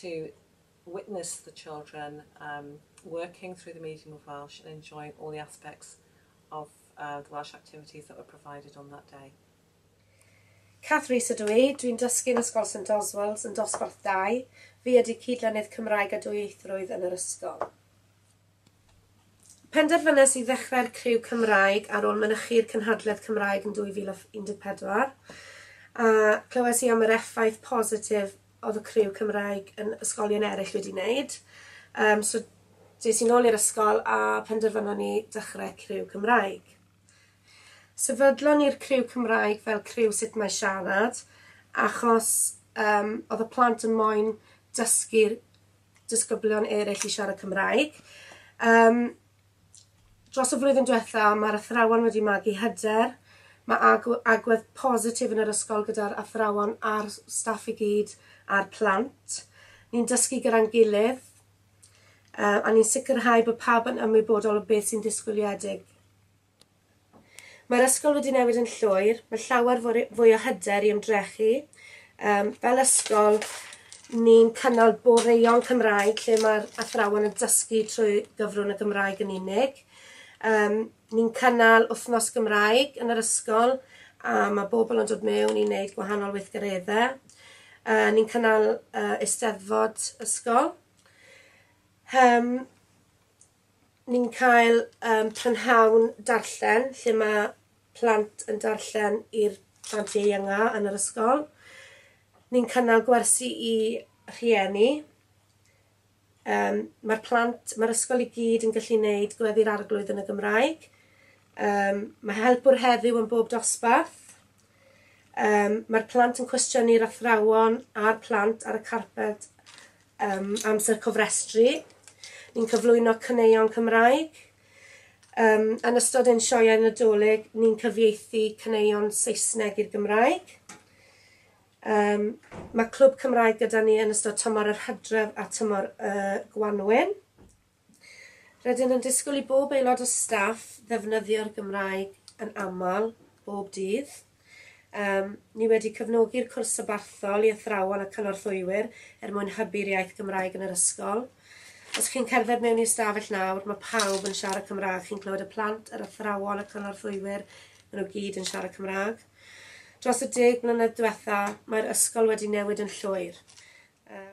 to witness the children um working through the medium of Welsh and enjoying all the aspects of uh the Welsh activities that were provided on that day. Cath Rees ydw i, dwi'n dysgu yn Ysgol St Oswald's yn Dosbarth 2. Fi ydy cyd-lennydd Cymraeg a Dwyieithrwydd yn yr ysgol. Penderfynes i ddechrau'r criw Cymraeg ar ôl mynychu'r cynhadledd Cymraeg yn 2014, a clywais i am yr effaith positif oedd y criw Cymraeg yn ysgolion eraill wedi wneud. Um, so des i'n ôl i'r ysgol a penderfynon ni dechrau criw Cymraeg. Sefydlon ni'r criw Cymraeg fel criw sut mae siarad, achos um, oedd y plant yn moyn dysgu'r disgyblion eraill i siarad Cymraeg. Um, dros y flwyddyn diwetha, mae'r athrawon wedi magu hyder, mae agwedd positif yn yr ysgol gyda'r athrawon a'r staff i gyd a'r plant. Ni'n dysgu gyda'n gilydd uh, a ni'n sicrhau bod pawb yn ymwybodol o beth sy'n disgwyliedig. Mae'r ysgol wedi newid yn llwyr, mae llawer fwy o hyder i ymdrechu. Um, fel ysgol, ni'n cynnal boreion Cymraeg lle mae'r athrawon yn dysgu trwy gyfrwng y Gymraeg yn unig. Um, ni'n cynnal wythnos Gymraeg yn yr ysgol a mae bobl yn dod mewn i wneud gwahanol weithgareddau. Uh, ni'n cynnal uh, eisteddfod ysgol. Um, Ni'n cael um, prynhawn darllen lle mae plant yn darllen i'r plant ieuenga yn yr ysgol. Ni'n cynnal gwersi i rhieni. Um, mae'r plant, mae'r ysgol i gyd yn gallu gwneud gweddi'r arglwydd yn y Gymraeg. Um, mae helpwr heddiw yn bob dosbarth. Um, Mae'r plant yn cwestiynu'r athrawon a'r plant ar y carped Ym amser cofrestru, ni'n cyflwyno caneuon Cymraeg. Ym yn ystod ein sioeau Nadolig, ni'n cyfieithu caneuon Saesneg i'r Gymraeg. Ym mae Clwb Cymraeg gyda ni yn ystod tymor yr hydref a tymor y gwanwyn. Rydyn yn disgwyl i bob aelod o staff ddefnyddio'r Gymraeg yn aml, bob dydd. Yym, ni wedi cefnogi'r cwrs sabarthol i athrawon a cynorthwywyr er mwyn hybu'r iaith Gymraeg yn yr ysgol. Os chi'n cerdded mewn i ystafell nawr, mae pawb yn siarad Cymraeg. Chi'n clywed y plant, yr athrawon, y cynorthwywyr, maen nhw gyd yn siarad Cymraeg. Dros y deg mlynedd diwetha, mae'r ysgol wedi newid yn llwyr. Yym,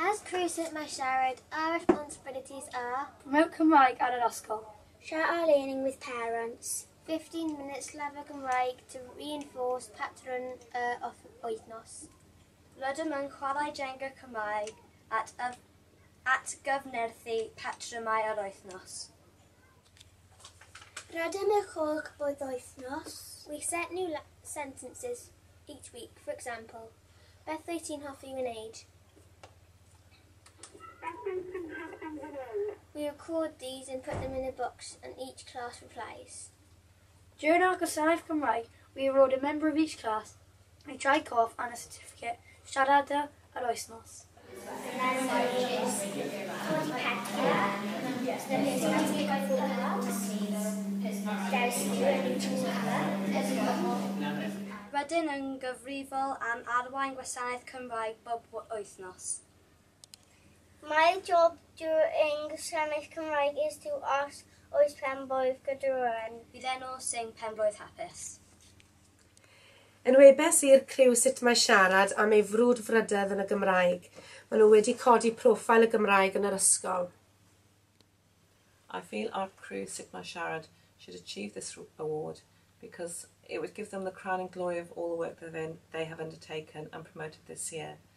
As Crescent mae siarad our responsibilities are. Mewn Cymraeg ar yr ysgol. Share our learning with parents. 15 minutes lefel Gymraeg to reinforce patrwn y wythnos. Rydym yn chwarae Jenga Cymraeg at, at gyfnerthu patrymau yr wythnos. Rydym yn chwch boedd wythnos. We set new sentences each week, for example. Beth wyt ti'n hoffi wneud? Beth wyt ti'n hoffi wneud? We record these and put them in a box and each class replies. During our Gwasanaeth Cymraeg, we award a member of each class a try cough and a certificate, siarada yr wythnos. Rydyn yn gyfrifol am arwain gwasanaeth Cymraeg bob wythnos. Mae'r job drwy ein gwasanaeth Cymraeg is to os oes penblwydd gyda rywun. Bydd enw Sing Penblwydd Hapus. Enwebais i'r criw sut mae siarad am ei frwdfrydedd yn y Gymraeg. Maen nhw wedi codi profile y Gymraeg yn yr ysgol. I feel our crew Sut Mae Siarad should achieve this award because it would give them the crowning glory of all the work that they have undertaken and promoted this year.